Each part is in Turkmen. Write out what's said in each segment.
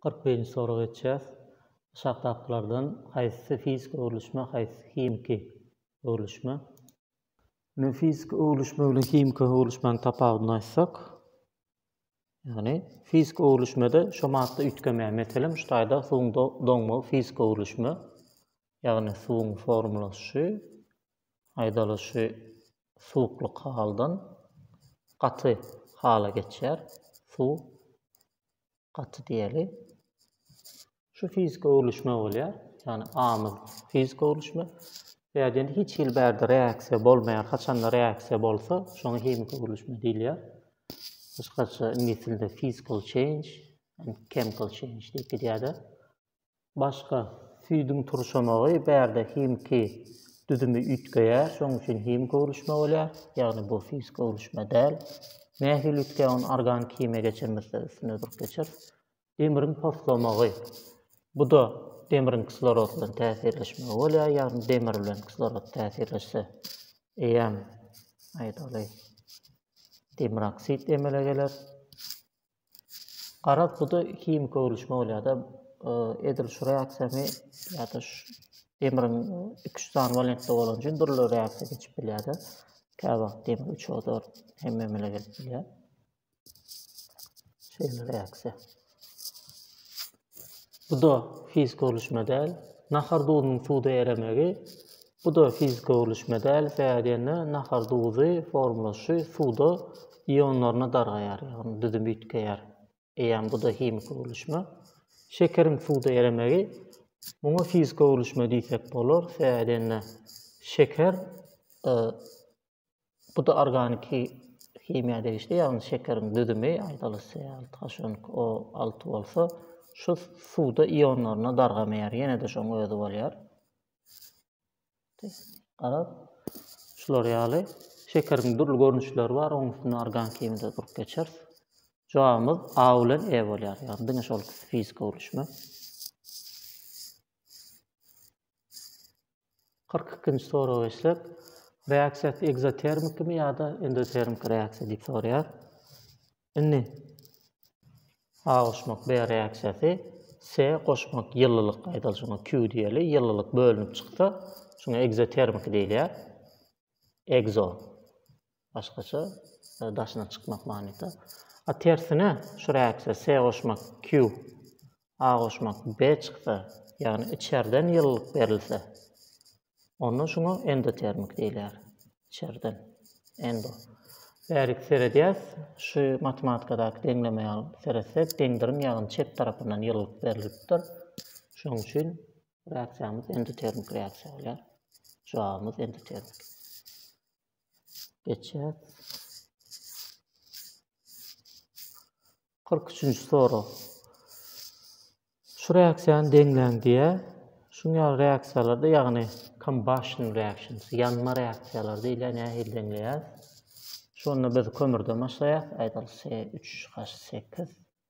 Kyrk birinji sorag etýäs. Aşakdakylardan haýsysy fiziki öwrülişme, haýsysy himiki öwrülişme? Indi fiziki öwrülişme bilen himiki öwrülişmäň tapawudyny aýtsak, ýagny fiziki öwrülişmede şo madda üýtgemeýär. Meselem, şu taýda suwuň doňmagy fiziki öwrülişme, ýagny suwuň formulaşy, aýdalyşy suwuklyk haldan gaty hala geçýär. Suw gaty diýeli. Şu fiziki öwrülişme bolýar. Ýagny amyl fiziki öwrülişme. Ýa diýen hiç hili bärde reaksiýa bolmaýar. Haçanda reaksiýa bolsa, şoňa himiki öwrülişme diýilýär. Gysgaça iňlis dilinde physical change and chemical change diýip gidýär-de. Başga, süýdüň turşamagy bärde himiki düzümi üýtgeýär, şonuň üçin himik öwrülişme bolýar, ýagny bu fiziki öwrülişme däl. Nähili üýtgeýär, ony organiki himiýa geçirmezde üstüne durup geçeris. Demiriň poslamagy, bu-da demiriň kislorod bilen täsirleşmegi bolýar, ýagny demir bilen kislorod täsirleşse eýýäm, aýdaly, demir oksid emele geler. Garaz buda himiki öwrülişme bolýada edil şu reaksiýany ýa-da demiriň iki üç sany walentde bolan üçin dürli reaksiýa geçip bilýärdi. Käbir wagt demir üç ozor hem memele gelip bilýär. Şeýle reaksiýa. Bu-da fiziki öwlüşme däl. Nahar duzunyň suwda eremegi, bu-da fiziki öwlüşme däl. Sebäbi diýende, nahar duzy formalaşy suwda ionlaryna dargaýar, ýagny düzüm üýtgeýär. Eýýäm bu-da himiki öwlüşme. Şekeriň suwda eremegi, muňa fiziki öwlüşme diýsek bolar. Sebäbi diýende, şeker Bu da organiki himiýa degişli, ýagny şekeriň düzümi, aýdalyşy, altaşonk o alty bolsa, şu suwda ionlaryna dargamaýar, ýene-de şoň özi bolýar. Garap, şular ýaly şekeriň dürli görnüşleri bar, oň üstünde organiki himiýada durup geçer. Jogabymyz A bilen E bolýar, ýagny diňe şol fiziki gurluşma. Kyrk ikinji soraga geçsek, reaksiýasy ekzotermikmi ýa-da endotermik reaksiýa diýip soraýar. Indi A goşmak B reaksiýasy, C goşmak ýylylyk, aýdaly şoňa Q diýeli, ýylylyk bölünip çyksa, şuňa ekzotermiki diýilýär. Ekzo. Başgaça daşyna çykmak manyda. A tersine şu reaksiýa se goşmak Q, A goşmak B çyksa, ýagny içerden ýylylyk berilse, onda şuňa endotermik diýilýär. Içerden, endo. Bärik seredýäs, şu matematikadaky deňleme ýaly seretsek, deňdirim ýagyny çep tarapyndan ýylylyk berilipdir. Şonuň üçin reaksiýamyz endotermik reaksiýa bolýar. Jogabymyz endotermik. Geçýär. 43-nji sorag. Şu reaksiýany deňläň diýýär. Şuň ýaly reaksiýalarda, ýagny combustion reactions, ýanma reaksiýalary diýilýär, nähili deňleýäris? Şonda biz kömürden başlaýarys, aýdaly, C3H8.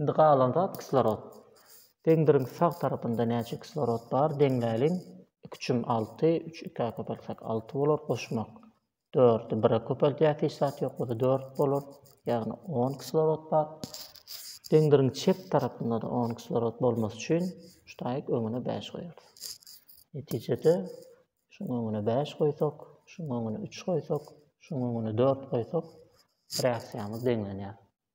Indi galan zat kislorod. Deňdiriň sag tarapynda näçe kislorod bar deňläliň. Iki çüm alty, üç ikä köpeltsek alty bolar, goşmak. Dördi bire köpeltýäs hiç zat ýok bolsa dört bolar. Ýagny on kislorod bar. Deňdiriň çep tarapynda-da on kislorod bolmasy üçin ştaýk öňüne bäş goýarys. Netijede şuň öňüne bäş goýsak, şuň öňüne üç goýsak, şuň öňüne dört goýsak reaksiýamyz deňlenýär.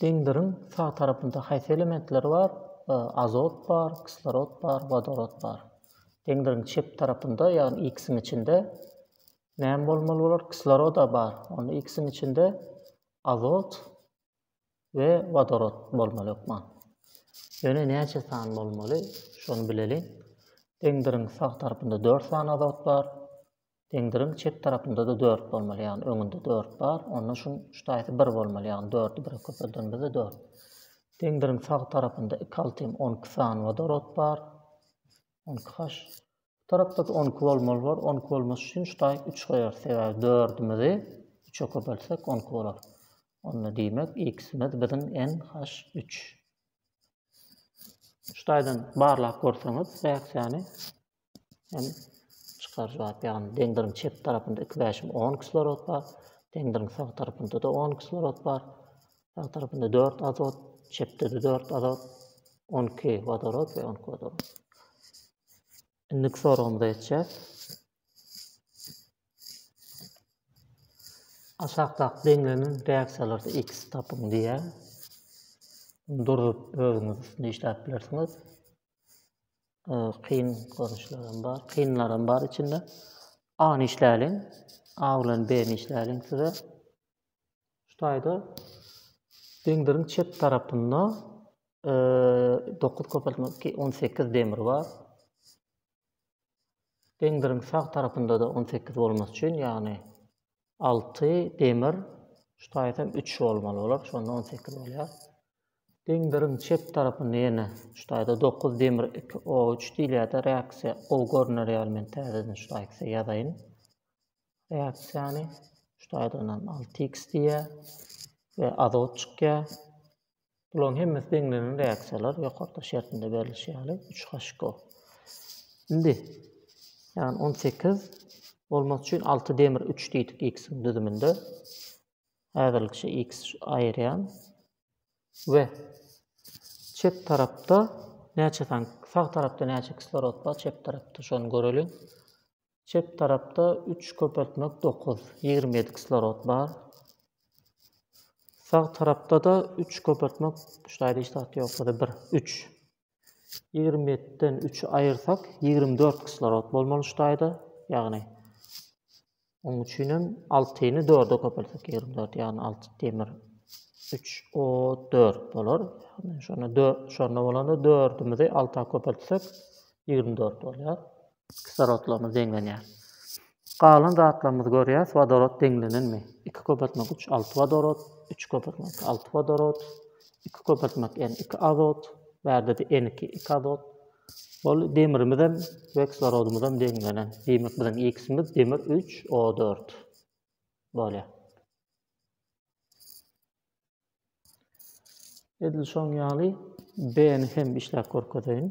Deňziň sag tarapynda haýsy elementler bar? Azot bar, kislorod bar, wodorod bar. Deňziň çep tarapynda, ýagny X-iň içinde näme bolmaly bolar? Kisloroda bar. Onda X-iň içinde azot we wodorod bolmaly hökman. Ýöne näçe san bolmaly? Şony bileliň. Deňziň sag tarapynda 4 sany azot bar. Pendiriň çep tarapynda-da dört bolmaly, ýagny öňünde dört bar, onda şuň ştaýsy bir bolmaly, ýagny dördi bire köpeldenimizde dört. Pendiriň sag tarapynda iki alty hem on iki sany wodorod bar, on iki haş. Bu tarapda-da on iki bolmaly bolar, on iki bolmasy üçin ştaý üç goýarys, sebäbi dördümizi üçe köpeltsek on iki bolar. Onda diýmek, x-imiz biziň n haş üç. Ştaýdan barlap görseňiz, reaksiýany Hem çykaryjy bap, ýagny dendriň çep tarapynda iki bäşim on kislorod bar, dendriň sag tarapynda-da on kislorod bar. Sag tarapynda dört azot, çepde-de dört azot, on iki wodorod we on iki wodorod. Indiki soragymyza geçýäs. Aşakdaky deňlenen reaksiýalarda X tapyň diýýär. Durup özüňiz üstünde işläp bilersiňiz. e, kyn görnüşlerim bar, kynlarym bar içinde. An işläliň, A bilen B işläliň size. Şu taýda deňdiriň çep tarapynda 9 köpeltme 18 demir bar. Deňdiriň sag tarapynda da 18 bolmasy üçin, ýagny alty demir, şu taýytam üç bolmaly bolar, şonda on sekiz bolýar. Deňdiriň çep tarapynda ýene şu taýda dokuz demir iki o üç diýilýär-de, reaksiýa gowy görner ýaly men täzeden şu taýy size ýazaýyn. Reaksiýany şu taýdan alty x diýýär we azot çykýar. Bularyň hemmesi deňlenen reaksiýalar, ýokarda şertinde berlişi ýaly, üç HCO. Indi, ýagny on sekiz bolmak üçin alty demir üç diýdik X-iň düzüminde. Häzirlikçe X aýyrýan we çep tarapda näçe sany, sag tarapda näçe kislorod bar, çep tarapda şony göreliň. Çep tarapda üç köpeltmek dokuz, ýigrimi ýedi kislorod bar. Sag tarapda-da üç köpeltmek, şular hiç zat ýok, bir, bir, üç. Ýigrimi ýetiden üçi aýyrsak, ýigrimi dört kislorod bolmaly şu taýda, ýagny oň üçin hem altyny dörde köpeltsek, ýigrimi dört, ýagny alty demir, üç o dört bolar. Şonda bolanda dördümizi alta köpeltsek, ýigrimi dört bolýar. kislorodlaryna deňlenýär. Galan zatlarymyzy görýäs, wodorod deňlenenmi? Iki köpeltme üç, alty wodorod, üç köpeltme iki, alty wodorod, iki köpeltme n, iki azot, bärde-de n iki, iki azot. Ol demirimiz hem we kislorodymyz hem deňlenen. Diýmek, biziň X-imiz demir üç, O dört bolýar. Edil şoň ýaly B-ni hem işläp görkezeýin.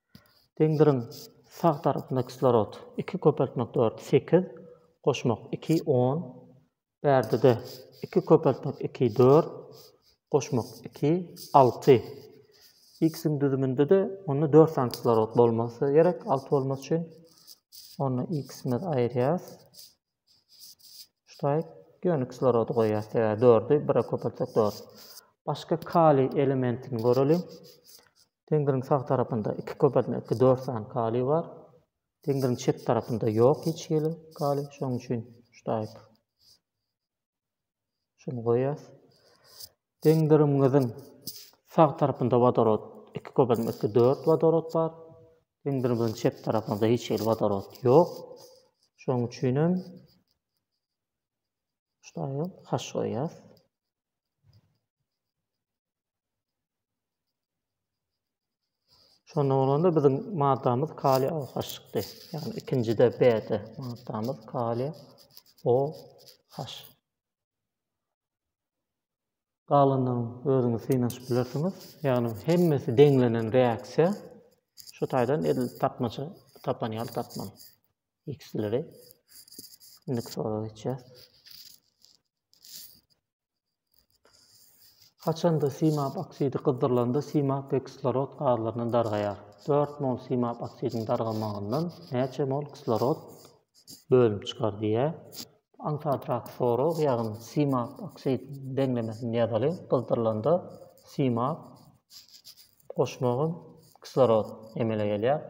Deňdiriň, sag tarapynda kislorod, iki köpeltmek dört, sekiz, goşmak iki, on, bärdede, iki köpeltmek iki, dört, goşmak iki, alty. X-iň düzüminde-de onda dört sany kislorod bolmasa gerek, alty bolmasy üçin. Onda X-imizi aýyrýarys. Ştaýg ýöne kislorody goýýar. Sebäbi dördi bire köpeltsek dört. Başga kaliý elementini göreliň. Deňziniň sag tarapynda iki köpeltme, iki dört sany kaliý bar. Deňziniň çep tarapynda ýok hiç hili kaliý. Şonuň üçin ştaýg. Şuny goýýas. Deňdirigiňiziň sag tarapynda wodorod, iki köpeltme, iki, dört wodorod bar. Deňdirigiňiziň çep tarapynda hiç hili wodorod ýok. Şonuň üçin hem şuňa haş goýýas. Şonda bolanda biziň maddamyz kaliý OH çykdy. Ýagny ikinjide B-de maddamyz kaliý OH. Galandan özüňiz synanyşyp bilersiňiz. Ýagny hemmesi deňlenen reaksiýa şu taýdan edil tapmaça tapan ýaly tapmaly. X-leri indiki sorag geçýär. Haçanda simap oksidi gyzdyrylanda simap we kislorod gazlaryny dargaýar. Dört mol simap oksidiň dargamagyndan näçe mol kislorod bölünip çykar diýýär. Aňsadrak sorag, ýagny simap oksidiň deňlemesini ýazalyň. Gyzdyrylanda simap goşmagam kislorod emele gelýär.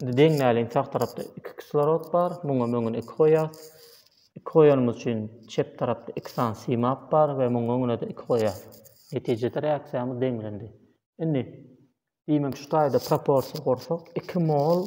Indi deňmäliň sag tarapda iki kislorod bar. Muňa öňüne iki goýýas. Iki goýanymyz üçin çep tarapda iki sany simap bar we muňa öňüne-de iki goýýas. Netijede reaksiýamyz deňlendi. Indi diýmek şu taýda proporsiýa gursak, iki mol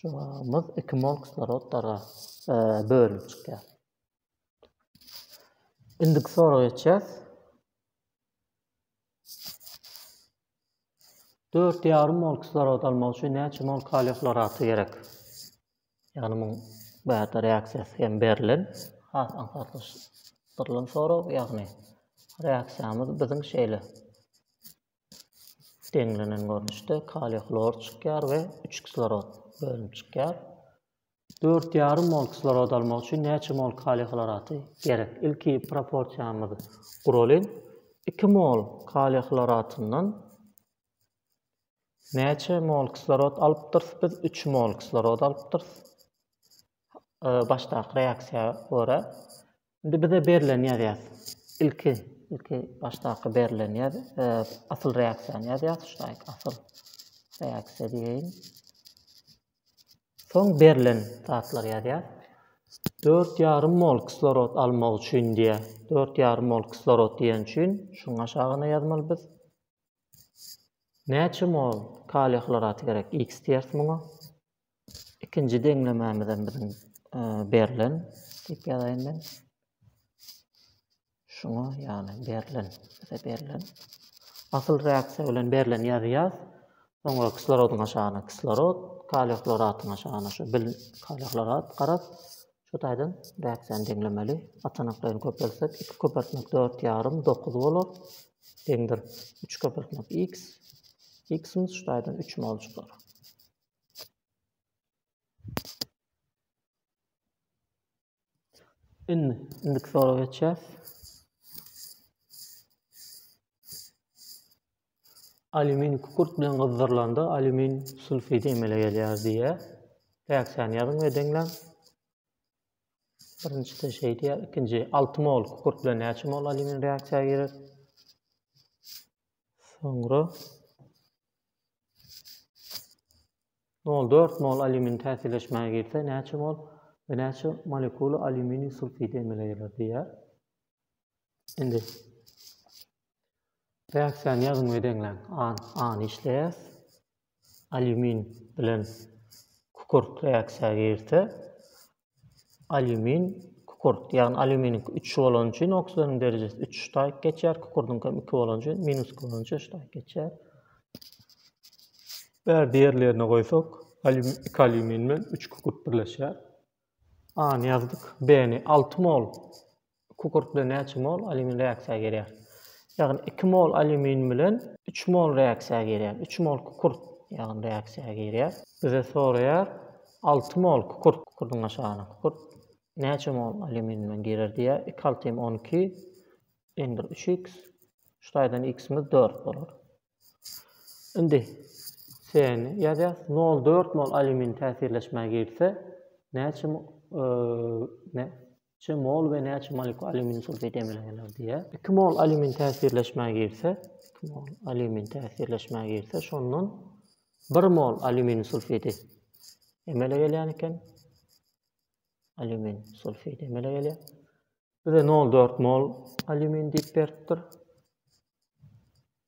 Jogabymyz iki mol kislorodlara e, bölünip çykýar. Indiki soraga geçýäs. Dört ýarym mol kislorod almak üçin näçe mol kaliý hloraty gerek? Ýagny muň bu ýerde reaksiýasy hem berlen, has aňsatlaşdyrylan sorag, ýagny reaksiýamyz biziň şeýle deňlenen görnüşde kaliý hlor çykýar we üç kislorod bölünip çykýar. Dört ýarym mol kislorod almak üçin näçe mol kaliý hloraty gerek? Ilki proporsiýamyzy guralyň. Iki mol kaliý hloratyndan näçe mol kislorod alypdyrys? Biz üç mol kislorod alypdyrys. Başdaky reaksiýa görä Indi bize berlen ýazýas. Ilki, ilki başdaky berlen ýaz, e, asyl reaksiýany ýazýas, şudaýk asyl reaksiýa diýeýin. Soň berlen zatlary ýazýas. 4,5 mol kislorod almak üçin diýýär. 4,5 mol kislorod diýen üçin şuň aşagyna ýazmaly biz. Näçe mol kaliý hloraty gerek? X diýeris muňa. ikinji deňlemämizem biziň berlen diýip ýazaýyn men. Şuňa ýagny berlen, bize berlen. Asyl reaksiýa bilen berlen ýazýas. Soňra kislorodyň aşagyna kislorod, kaliý hloratyň aşagyna şu bil kaliý hlorat garap, şu taýdan reaksiýany deňlemeli. Açanaklaryny köpeltsek, 2 köpeltmek 4 ýarym 9 bolar. Deňdir. 3 köpeltmek x. X-imiz şu taýdan 3 mol çykar. Indi, indiki sorag geçýär. Alýumin kükürt bilen gyzdyrylanda alýumin sulfidi emele gelýär diýýär. Täksän ýazyň we deňläň. Birinjisi şeý diýýär, ikinji 6 mol kükürt bilen näçe mol alýumin reaksiýa girer? Soňra Nol dört mol alýumin täsirleşmäge girse, näçe mol we näçe molekula alýuminiý sulfidi emele geler diýýär. Indi reaksiýany ýazyň we deňläň. A, A-ny işleýär. Alýumin bilen kükürt reaksiýa girse, Alýumin, kükürt, ýagny alýuminiňki üç bolany üçin oksidanyň derejesi üç ştaýk geçýär, kükürdiňki hem iki bolany üçin minus iki bolany üçin ştaýk geçýär. Bärde ýerlerine goýsak, iki alýumin bilen üç kükürt birleşýär. A-ny ýazdyk, B-ni alty mol Kükürtde näçe mol alýumin reaksiýa gelýär? Ýagny iki mol alýumin bilen üç mol reaksiýa gelýär. Üç mol kükürt ýagny reaksiýa girýär. Bize soraýar, alty mol kükürt, kükürdiň aşagyna kükürt näçe mol alýumin bilen girer diýýär. Iki altym on iki, iň bir üç iks. Şu taýdan iksimiz dört bolar. Indi C-ni ýazýarys. Nol dört mol alýumin täsirleşmä girse, näçe Çe mol we näçe molekul alýumin sulfidi emele geler diýýär. 2 mol alýumin täsirleşmä girse, 2 mol alýumin täsirleşmä girse, şondan 1 mol alýumin sulfidi emele gelýän eken. Alýumin sulfidi emele gelýär. Bize 0,4 mol alýumin diýip beripdir.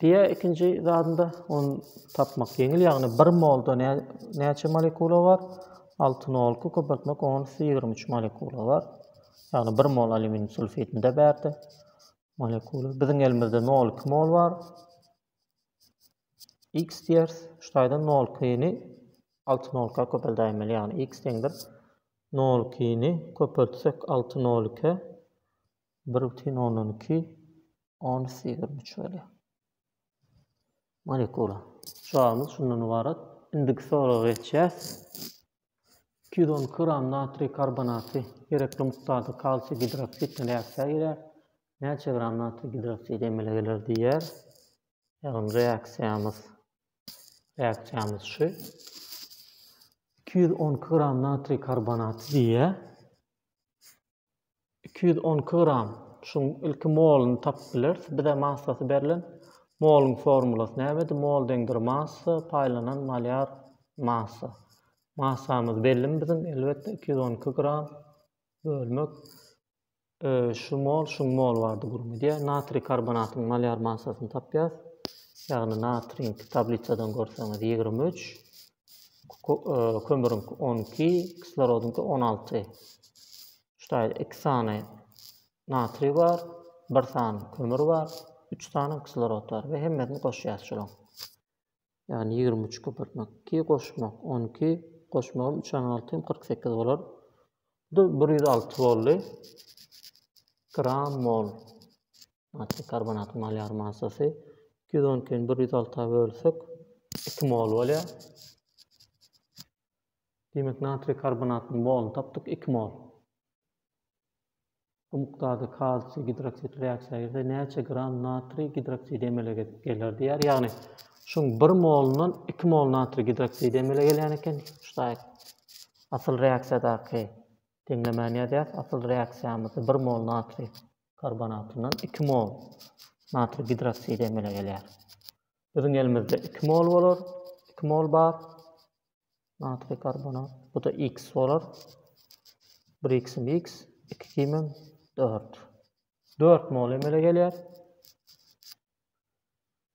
Diýä ikinji zadynda ony tapmak ýeňil ýagny bir molda näçe molekula bar alty nolky köpeltmek onys ýigrimi üç molekula bar ýagny bir mol alýuminiý sulfidinde bärde molekula biziň elimizde nol iki mol bar x diýeris şu taýdan nol ikini alty nolka köpeldäýmeli ýagny x deňdir nol ikini köpeltsek alty nol iki Bir bütin ondan iki ons ýigrimi üç bolýar. Molekula. Jogabymyz şundan ybarat. Indiki soraga geçýäs. Iki ýüz on iki gram natriý karbonaty gerekli mukdarda kalsiý gidroksidine reaksiýa girýär. Näçe gram natriý gidroksidi emele geler diýýär. Ýagny reaksiýamyz reaksiýamyz şu. Iki ýüz on iki gram natriý karbonaty diýýär. iki ýüz on iki gram şuň ilki molyny tapyp bileris bize massasy berlen molyň formulasy nämedi mol deňdir massa paýlanan malýar massa massamyz bellimi biziň elbetde iki ýüz on iki gram bölmek şu mol şuň mol bardy gürrüň edýär natriý karbonatyň malýar massasyny tapýas ýagny natriň tablissadan görseňiz ýigrimi üç kömürüň on iki, kislorodyňky on alty. Şutaýda iki sany natriý bar, bir sany kömür bar, üç sany kislorod bar we hemmesini goşýas şolaň. Ýagny ýigrimi üç köpürtmek, iki goşmak, on iki goşmagym üç on alty hem kyrk sekiz bolar. Bu bir ýüz alty boldy. Gram mol. Natrik karbonat malar massasy iki ýüz on ikini bir ýüz alta bölsek, iki mol bolýar. Diýmek, natrik karbonatynyň moluny tapdyk, iki mol. Bu mukdarda kalsiý gidroksid reaksiýa girse, näçe gram natri gidroksidi emele geler diýýär. Ýagny, şuň bir molundan iki mol natri gidroksidi emele gelýän eken. Şutaýyk. Asyl reaksiýadaky deňlemäni ýazýas. Asyl reaksiýamyzda bir mol natri karbonatyndan iki mol natriý gidroksidi emele gelýär. Biziň elimizde iki mol bolar, iki mol bar natriý karbonat. Bu da x bolar. Bir x-im x, iki kimim dört. Dört mol emele gelýär.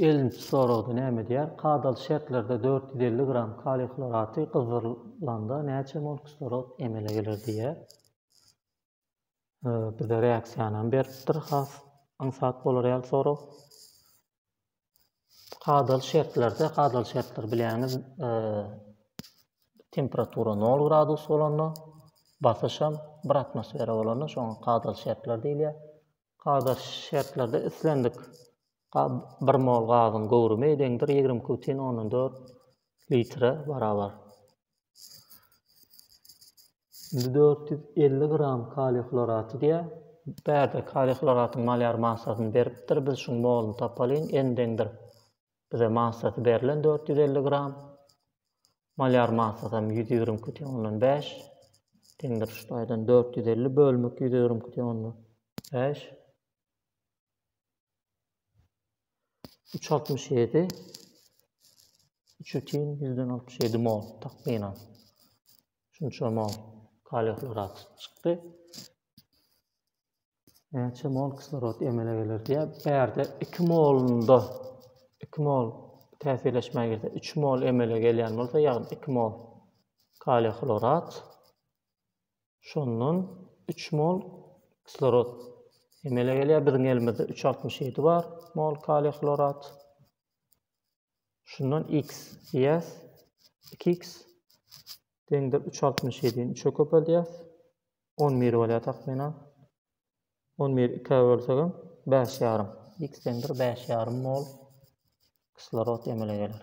Elnit soragda näme edýär? Kadaly şertlerde dört ýüz elli gram kaliý hloraty gyzdyrylanda näçe mol kislorod emele geler diýýär. Bize reaksiýanam beripdir has aňsat bolar ýaly sorag. Kadaly şertlerde, kadaly şertler bilýäňiz, e, temperatura 0 gradus bolanda, basyş hem 1 atmosfera bolanda, şoňa kadaly şertler diýilýär. Kadaly şertlerde islendik 1 mol gazyň göwrümi deňdir 22,4 litre barabar. Indi dört ýüz elli gram kaliý hloraty diýýär. Bärde kaliý hloratyň malýar massasyny beripdir. Biz şuň moluny tapalyň. N deňdir. Bize massasy berlen dört ýüz elli gram. Malýar massasam ýüz ýigrimi iki butyn ondan bäş. Deňdir şu taýdan dört ýüz elli bölmek ýüz ýigrimi iki butyn ondan bäş. Üç altmyş ýedi, üç bütin ýüzden altmyş ýedi mol takmynan. Şunça mol kaliý hlorat çykdy. Näçe mol kislorod emele geler diýä. Bärde 2 molunda 2 mol täsirleşmä girse 3 mol emele gelýän bolsa, ýagny 2 mol kaliý hlorat Şondan üç mol kislorod emele gelýär. Biziň elimizde üç altmyş ýedi bar mol kaliý hlorat. Şundan x diýýäs. Iki x deňdir üç altmyş ýedini üçe köpeldýäs. On bir bolýar takmynan. On bir ikä bölsegem bäş ýarym. X deňdir bäş ýarym mol kislorod emele geler.